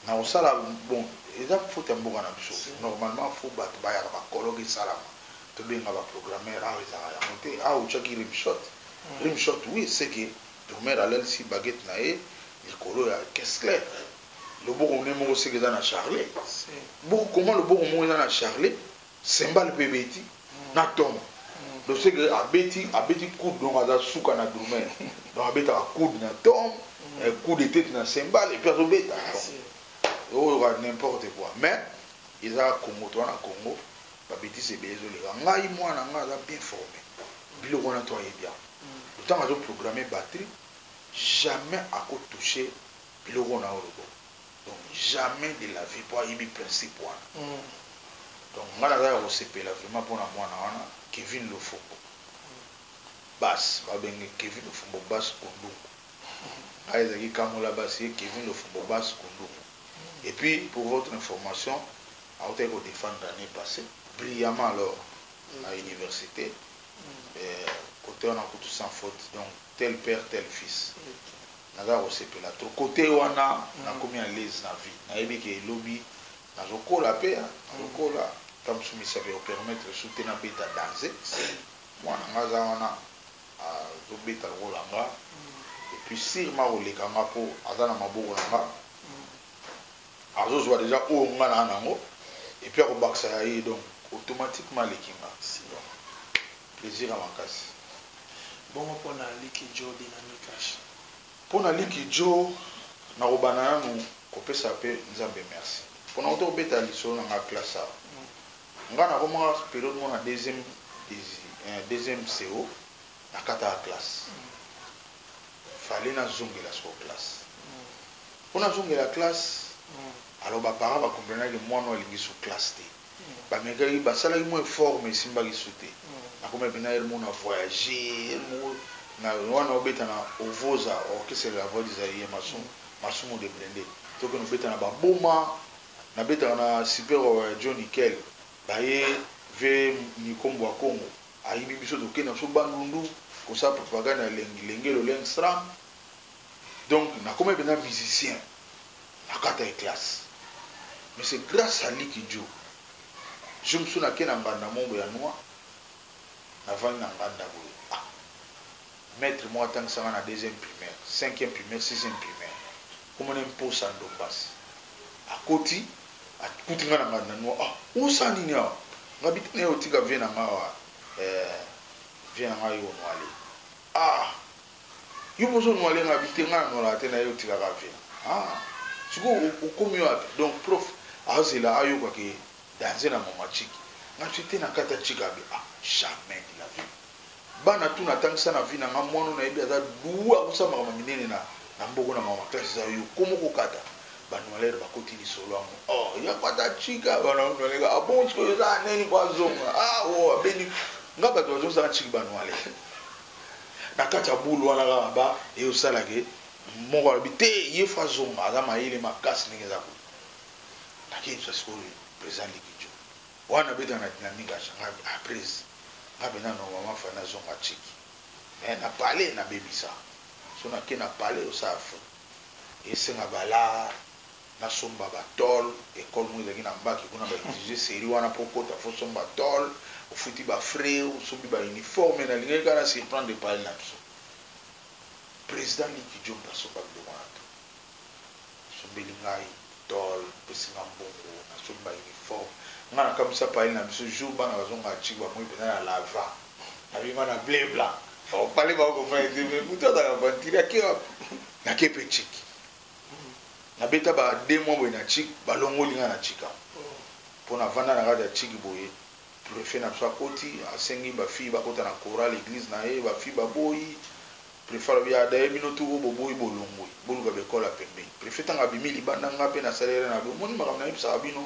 Nakosala bon eza faute ya mboka na biso normalement faut batu bayaka ba colloque esalama tobenga ba programmeur awa ezalaka yango te awa otiaki rimshot rimshot oui ce que drumeur alalisi baguette na ye likolo ya kessler loboko ne moko ce que eza na charlet bon comment loboko moko eza na charlet Cymbale pe ebeti na tongo donc ce que abeti abeti coude donc aza suka na drumel donc abetaka coude na tongo eh, coude eteti na cymbale epuis azo beta donc oyoka n'importe quoi mais eza Congo toza na Congo ba betise ebele ezo leka ngai mwana na ngai aza bien forme biloko wana to ayebi yango donc tango azo programme batterie jamais ako touche biloko oyo na yo oloba donc jamais de la vie po ayebi principe wana donc nga naza ya kosepela vraiment pona mwana wana Kevin Lofombo Bass ba benge Kevin Lofombo Bass Kundungu nga ezalaki Kamola Bass ye Kevin Lofombo Bass Kundungu et puis pour votre information awutaki ko defendre annee passe brillamment alors na universite cote wana kutu sans faute donc tel père tel fils naza kosepela trop cote wana nakomi à l'aise na vie nayebi ke lobi nazo kola pe hein nazo kola temps mususu misapi eko permettre lisusu te na beta danze mwana nga aza wana azo beta lokola nga et puis surement ako leka nga po aza na maboko na nga azo zua dejà oyo nga naza nango et puis ako bakisa ya ye donc automatiquement aleki nga donc. Plaisir ya makasi. Bongo pona Liki Djo Dynamikash? Pona Liki Djo nakobanda nanu kopesa pe Nzambe merci. Pona awuti kobeta lisolo na nga classe awa. Nga nakomaka kaka periode moko na deuxième desi eh deuxième pseo nakataka classe. Fallait nazongela sikoyo classe. Po nazongela classe alors ba parents ba comprenaki que muana oyo alingi lisusu classe te. ba mekaki ba salaki mwa effort mais esimbaki su te na komi pena heure moko na voyage heure moko na wana obeta na ovoza orchestre de la voix du zairien masumu masumu de blinde to kende obeta na ba boma na betaka na super wawa ya djo nickel baye vieux nico mbwa kongo ayibi biso tokenda biso bandundu kosala propagande ya lengi lenge loleng sram donc nakomaki mpenza musicien nakataki classe mais c'est grâce à liki djo jour mosusu nake na ngbanda mombo ya noix navandi na ngbanda boye ah maître moko atangisa ngai na deuxième primaire cinquième primaire sixième primaire kombo na ye mposa ndombas akoti akuti ngai na ngbanda noix ah osa nini awa ngai bita na ye otika vie na ngai awa eh, vie na ngai oyo noale ah Yo pe ozo nuale nga vie te nga na nualaka te naye otikaka vie aah sikoyo okomi wapi donc prof azela ayoka ke danze na maman chick nga ce te nakata chick abi ah jamais de la vie bana tout natangisa na vie na nga muana oyo nayebi aza duo akosala makambo ya minene na na mboko na maman classe eza yo koma okokata ba nualeur bakoti lisolo yango oh ya kwata chick ah bana nualeka ah bon sikoyo eza nani po azonga ah oh abeni nga bato bazongisa nga chick ba nuale Na kati ya boule wana kaka ba ezo sala ke moko alobi te ye faut azonga aza mayele makasi ndenge eza boye. Na ke yebisa sikoyo president Liki Djo wana abetaka na dynamique ya Shanga ah prez nga penza normalement fallait na zonga Tshiki mais na palais na bebisa soki na ke na palais osala faute esenga ba la Na somba ba tol, ecole moko ezalaki na mbaki kuna ba exige serie wana po okota faut osomba tol, ofuti ba frais, osombi ba uniformes, na lingaki kaka na surprendre epayi na biso president Liki Djombe asomba biloko wana tout, asombeli ngai tol, apesi nga mbongo, na sombi ba uniformes, nga na kamwisi epayi na biso jour bana bazo nga chic ba moni penza na lava, na bima na ble blanc, au palais ba ko comprendre te mais mutu azalaka aventurier ake wapi? Na ke pe chic. na beta ba deux mois boye na chic ba longoli nga na chic awa po na vanda na kati ya chic boye prefet na biso akoti asengi ba fille ba kota na chorale eglise na ye ba fille ba boyi prefet alobi ah d'ailleurs bino tout oyo bo boyi bo longwe bo luka ba ecole ya pembeni prefet tango abimi libanda nga pe na sali rien alobi omoni makambo na yebisaka bino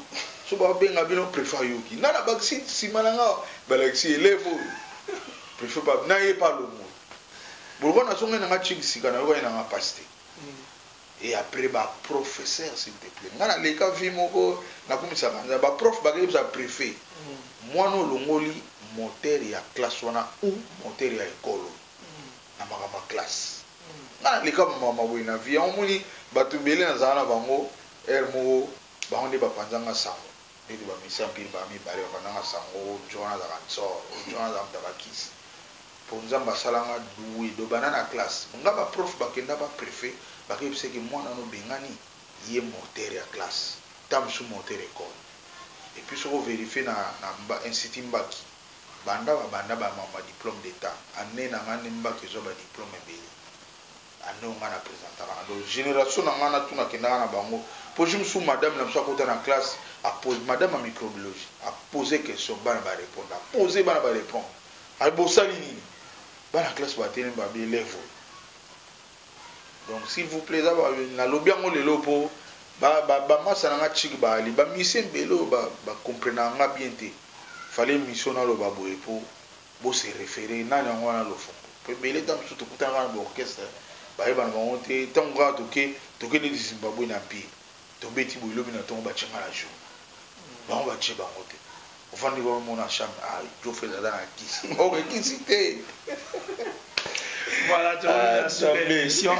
soki ba benga bino prefet ayoki nga na bakisi sima na nga ba lakisi elève oyo prefet pa na ye pe alongwe bolokwa na zongai na nga chic sika na yokani na nga pasi te et après ba professeur s'il te plait nga na leka vie moko na kumisaka nzambe ba prof ba yebisa prefet muana olongoli moteur ya classe wana ou moteur ya ecole oyo na makambo ya classe nga na leka ba makambo ya boye na vie yango omoni batu ebele na zala na bango heure moko bango nde ba panza nga sango Mbetu ba musiciens pire bango mibale ba fandaka sango mutu wana azalaka ntsoor mutu wana azalaka mutu ya ba kisi po nzambe asala nga doue do banda na classe nga ba prof ba kenda ba prefet ba ke yebisa ke muana wana obengani ye morteur ya classe tango mususu morteur ecole et puis soki o verifier na na institut mbaki banda ba banda ba ma diplome d'etat annee na nga nde mbaki ezua ba diplome ebele Banda oyo ngai na presentaka na donc generation na ngai natuna kendaka na bango po jour mosusu madame na biso akota na classe a pose madame ya microbiologie a pose question bana ba reponda a pose bana ba repondre a bosali nini bana classe batelemi ba bi elève oyo donc s'il vous plaît eza nalobi yango lelo po ba ba ba masa na ngai chik baali ba musiciens belo ba ba comprenaka ngai bien te fallait mission naloba boye po Bo se referer nani yango wana Lofombo? Po ebele tango mosusu tokutanaka na ba orchestre bayebana bango te tango kaka toke toke neti Zimbabwean Empire tobeti boye lobi na tongo batie nga na journaux bango batie bango te ofandi kaka omona na chambre ah Djo Fred aza na kisi ok kisi te Voilà tozongi na suka ya emission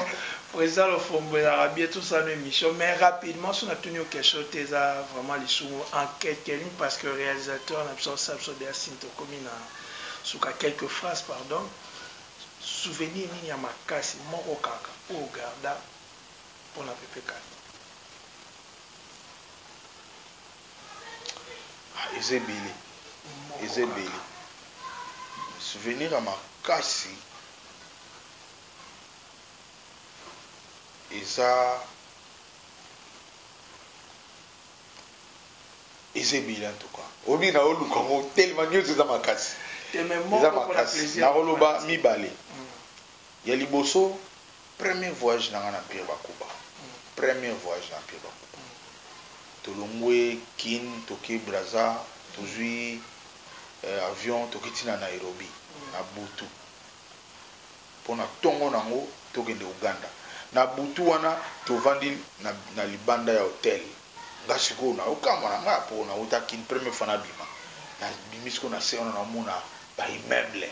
President Lofombo ezalaka bien tosala emission mais rapidement soki natuni yo question te eza vraiment lisumu en quelques lignes parce que realisateur na biso asala biso deya synthesizer. Ekomi na suka quelques phrases pardon souvenir nini ya makasi moko kaka oyo o garda pona Pepe Kale? Ah eza ebele eza ebele souvenir ya makasi eza eza ebele en tout cas obi na oluka ngo tellement nioso eza makasi eza makasi na koloba mibale mm. ya liboso premier voyage na nga na Pierre Bakuba mm. premier voyage na Pierre Bakuba mm. tolongwe Kin toke Brazza tozui euh, avion tokiti na Nairobi na butu Pona tongo nango tokende Ouganda. Na butu wana tovandi na libanda ya hotel. Nga sikoyo nazo kamwa na nga po nawuta kin première fois nabima. Na bimi sikoyo na se wana nazo mona ba immeuble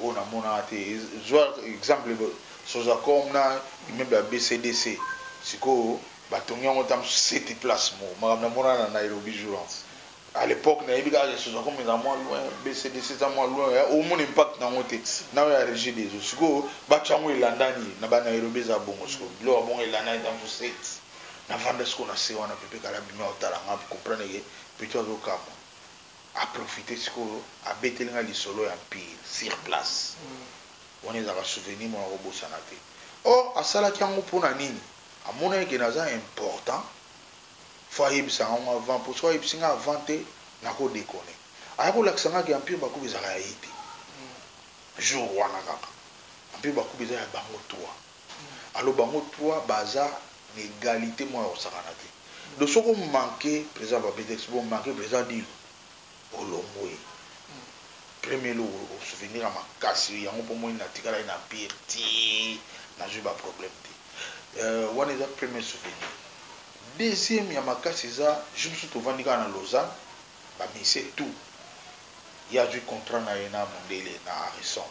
oyo na monaka te. Zwa exemple Sozacom na immeuble ya BCDC. Sikoyo ba tongi yango ata mususu 7 place moko. Makambo na monaka na Nairobi jour wana. A l'epoque nayebi kaka que Sozaco mais ezala mua loin, BCDC eza mua loin eh, omona impact na yango te na oyo ya Regideso sikoyo batia yango elandani na ba Nairobi eza bongo sikoyo biloko ya bongo elandani eza mususu set na vanda sikoyo na se wana Pepe Kalle abimi azo tala nga a comprendre que petit azo kamua a profiter sikoyo abeteli nga lisolo ya empire sur place wana ezalaka souvenir moko nako bosana te or asalaki yango pona nini amonaki que naza important faut ayebisa nga ngo avant po soki ayebisi nga avant te nako deconne aya ko lakisa nga ke empire bakuba ezalaka ya ye te jour wana kaka empire bakuba eza ya bango trois alors bango trois baza na egalite moko ya kosakana te donc soki o manque president papetex bo manque president dino Olongwe premier eloko o souvenir ya makasi yango po omoni natikalaki na empire ti nazui ba problème te wana eza premier souvenir deuxième ya makasi eza jour mosusu tovandi kaka na Lausanne ba musiciens tout ye azui contrat na ye na mundele na Harrison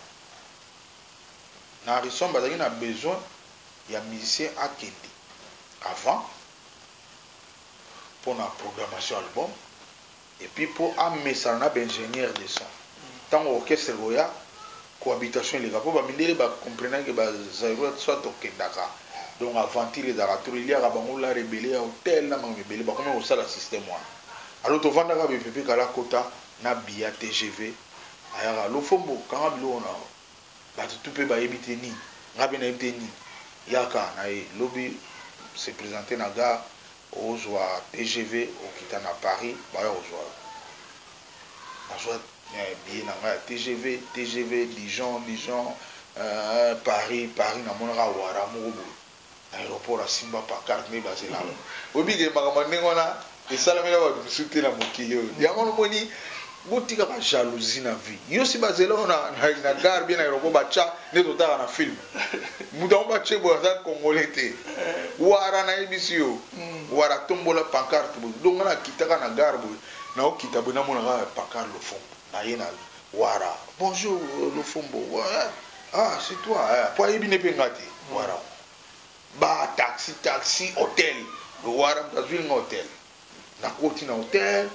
na Harrison bazalaki na besoin ya musicien akende avant pona programmation album Et puis po amesana na ba ingenieurs de son tango orchestre ekoya cohabitation eleka po ba mindele ba comprenaki que ba zairois soit tokendaka donc aventure ezalaka trop eliaka bango lard ebele ya hotel na makambo ebele bakomaki kosala système wana alors tovandaka boye Pepe Kalle akota na biya tgv ayaka Lofombo kanga biloko na yo batu tout pe bayebi te nini nga pe nayebi te nini yaka na ye lobi se presenter na gare Ozua tgv okita na Paris baya kozua yo. Nazua billet na ngai ya tgv, tgv Dijon, Dijon eeh Paris, Paris namonaka awara moko boye na aeroport asimba pancarte nde bazela yo. Oyebi ke makambo ya ndenge wana esalamela batu mosusu te na mokili oyo. Yango wana omoni Botika ba jalousie na vie. Yo si bazela yo na, na, na gare bien na aéroport bacha nde totaka na film. Moto yango bache boye aza congolais te. Wara nayebisi yo. Hmm. Wara tombola pancarte boye. Donc na kitaka na gare boye. Na okita boye namona kaka pancarte lofombo. Na ye na wara. Bonjour euh, lofombo. Wara. Ah, c'est toi. Eh, po ayebi ne pe nga te. Hmm. Wara. Ba taxi taxi hotel. Wara mtazwi nga hotel. Na koti na hotel,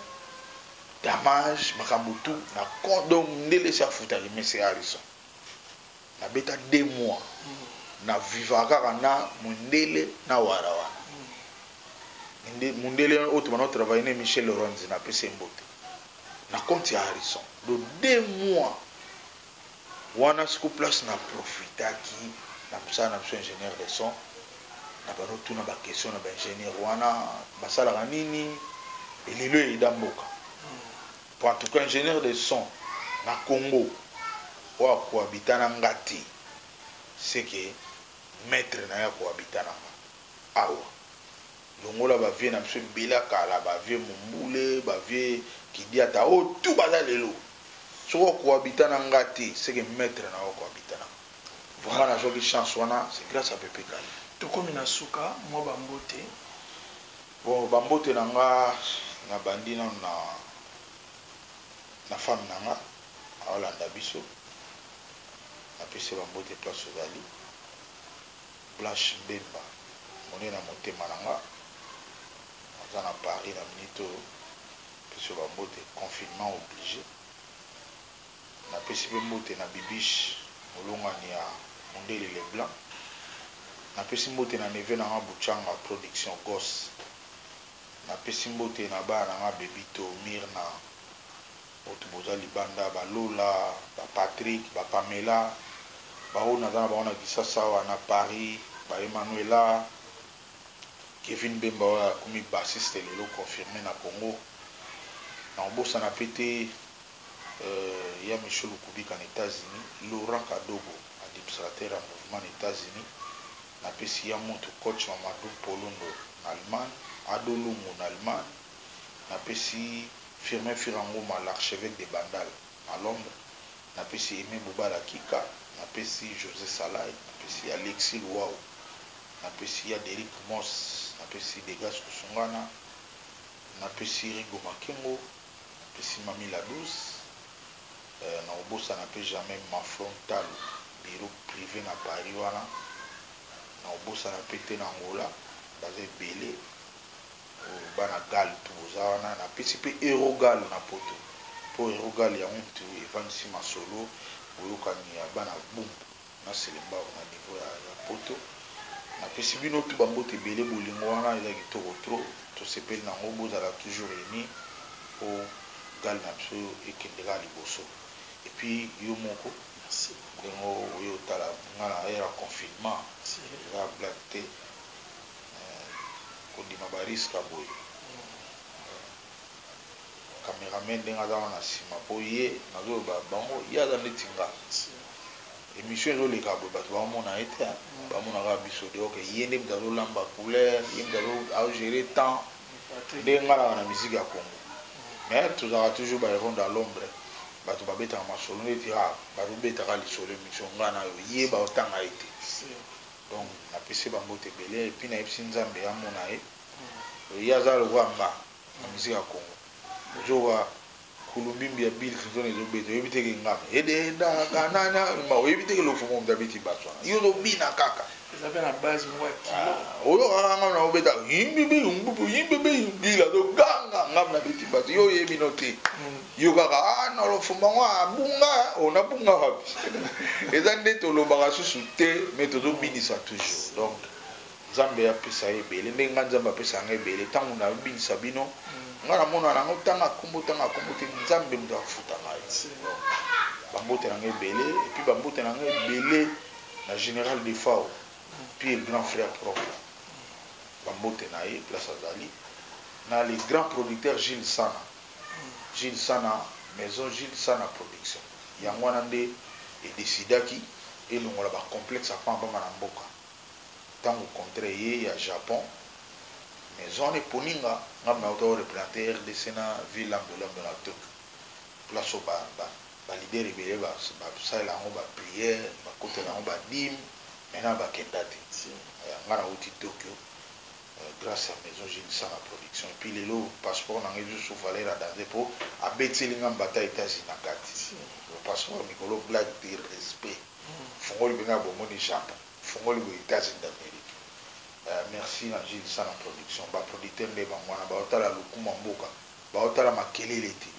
damage, makambo tout na compte donc mundele esi afuta ye mais c'est Harrison. Na beta deux mois na vivaka kaka na mundele na wara wana. Mundele, mundele oyo tobanda ko travailler na ye Michel Lorenzi na pesi ye mbote na compte ya Harrison donc deux mois. Wana sikoyo place na profitaki na mosala na biso ingenieur de son na banda kotuna ba question na ba ingenieur wana basalaka nini elelo eyeda mboka po en tout cas ingenieur de son na Congo oyo akohabita na nga te seke maitre na ye akohabita na nga awa Longola ba vieux na biso ebele ya kala ba vieux Mumbule, ba vieux Kidiata oyo tout baza lelo. Soki o cohabita na nga te ce que maitre na yo a cohabita na nga. Vraiment nazwaki chance wana c'est grace à Pepe Kalle. Tokomi na suka, mwa ba mbote. Bon ba mbote na nga na bandi nanu na na femme na nga aolanda biso. Na pesi ye ba mbote place ozali. Blanche Bemba monene ya motema na nga aza na Paris na minute oyo pesi yo ba mbote confinement oblige na pesi pe mbote na Bibiche molongani ya Mundele le blanc na pesi mbote na neveu na nga Buchanga production Goss na pesi mbote na bana na nga Bebito, Myrna. Botu boza libanda ba lola ba Patrick ba pamela ba oyo naza na bango na kisasa awa na Paris ba Emmanuella Kevin bemba oyo akomi bassiste lelo confirme na Congo na kobosana pe te euh ya Michel Lukubika na Etats Unis Laurent Kadogo administrateur ya mouvement na Etats Unis na pesi ya mutu coach Mamadou Polondo na Allemagne Ado Lungu na Allemagne napesi Firmin Fira Ngoma l'archeveque de Bandal na Londres, napesi Aime Bobala Kika, napesi Jose Salay, napesi Alexis Luwawu, napesi ya Derrick Moss, napesi Degas Kusungana, napesi Rigo Makengo, napesi Mamie La Douce, eh, nakobosana mpe jamais Manflon Ntalo, bureau prive na Paris wana, nakobosana mpe te na Angola, baza ebele. Ooh bana Gal tout boza wana na pesi pe Euro Gal na poto po Euro Gal yango mutu evandisi masolo boyokani ya bana Bumbu na Selembao na niveau ya ya poto na pesi bino tout ba mbote ebele bolingo wana eza kitoko trop to sepeli na ngo bozala toujours unis po Gal na biso ekende kaka liboso et puis yo moko ndenge oye otala nga na heure ya confinement eza blague te. Eh, kondima ba risque ya boye. Cameraman ndenge aza wana sima po ye nazo loba bango ye aza neti nga. Emission ezo leka boye batu ba mona ye te hein. Ba mona kaka biso de ok ye nde mutu azo lamba couleur, ye mutu azo azo gerer temps. Ndenge nga naka na musique ya Congo. Mais tozalaka toujours ba heros dans l'ombre. Batu ba betaka masolo neti ah bazo beta kaka lisolo emission nga nayo. Ye bao tanga ye te. Donc na pesi ye ba mbote ebele et puis na yebisi nzambe amona ye euh ye aza lokola nga na musique ya congo ozo wa kulumbimbi ya bill clinton ezo beta oyebi te ke ngame ededa ka na na ma oyebi te ke lofumo mda beti bass wana yo ozo bina kaka eza pe na base mwa kilo ah, oyo kaka ngame na obeta yimbi bi yimbi bi yimbi bi bill azo ganga ngame na beti bass yo oyebi no te mm. yo kaka ah na lofumba ngo abunga oh na bunga wapi eza nde tolobaka susu te mais tozobinisa toujours donc nzambe apesa ye ebele ndenge ngai nzambe apesa ngai ebele ntango nabinisa bino mm. ngai namona nango ntanga nkombo ntanga nkombo te nzambe moto akofuta ngai bambote na ngai ebele epuis bambote na ngai ebele na général defao puis le grand frère propre bambote na ye place azali na le grand producteur gilles sana Jules Sana Maison Jules Sana Production yango wana nde e decidaki elongola ba complexes ya pamba pamba na mboka. Tango contrat eye ya Japon, maison wana eponi nga, nga pe nakota ko representer rdc na ville Lando Lando na Tokyo place oyo ba ba leaders ebele ba salela yango ba prières, ba kotela yango ba dimes, mais nanu ba kenda te. Nga nawuti Tokyo. grace ya maison Gilles sala production epuis lelo passeport na ngai lisusu valeur ya danze po abeteli ngai mbata Etats-Unis na kati ba passeport ya mikolo blague de respect fungoli pe ngai bomoni Japon fungoli boye Etats-Unis d'Amerique eh merci na Gilles sala production ba producteur nde bango wana bazo tala lokuma mboka bazo tala makelele te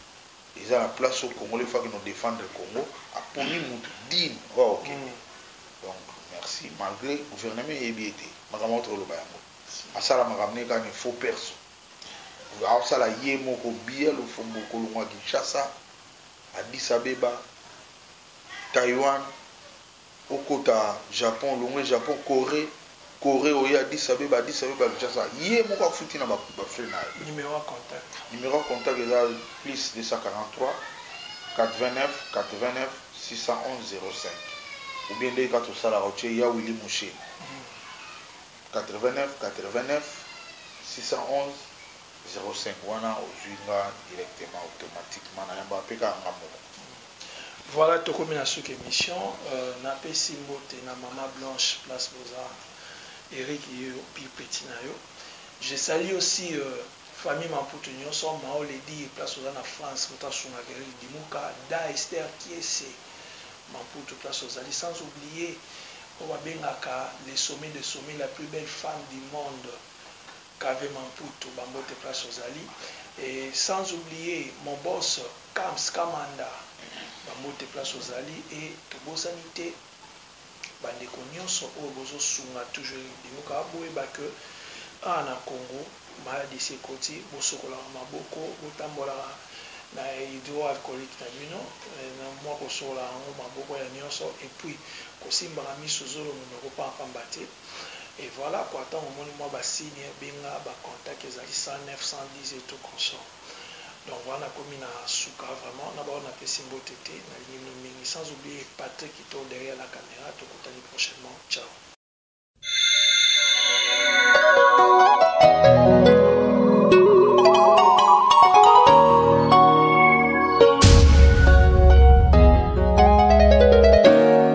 Eza na place oyo congolais faki no defendre congo aponi mutu digne oyo akokende donc merci malgre gouvernement eyebi ye te makambo auti koloba yango asala makambo ne kaka ne faut perso aosala ye moko biya lofombo kolongwa kinshasa addis abeba taiwan Okota Japon olongwe Japon Coree Coree oye Addis Abeba Addis Abeba Kinshasa ye moko afuti na ba frais na yo. Numero ya contact. Numero ya contact eza plus 243489611005 ou bien ndenge kaka tosalaka otie ya Willy Mushe 8989611005 wana ozui nga directement automatiquement nayambaka pe kaka nga moko. Voilà tokomi na suka emission na pesi mbote na maman blanche place boza Eric ye opi petit na yo je salie aussi famille mamputu nioso mao lady place oza na France moto asungaka Eric dimuka da Esther kiese mamputu place ozali sans oublier oyo ba bengaka le sommet de sommet la plus belle femme du monde Cave Mamputu ba mbote place ozali et sans oublier mon boss Kams Kamanda ba mbote place ozali et tobosani te ba ndeko nionso oyo bozo sunga toujours Linduka boyeba que awa na Congo malade esi ekoti bosokolaka maboko botambolaka na hydro alcoolique na bino na mua kosokolaka yango maboko ya nionso et puis kosimbaka misu zolo munoko pamba pamba te. et voila quoi tango omoni mwa ba signe benga ba contact ezali 109 110 et tout consort donc voila nakomi na suka vraiment na ba oyo napesi mbote te nalingi bino mingi sans oublie Patrick kito derrière la camera tokutani prochainement ciao.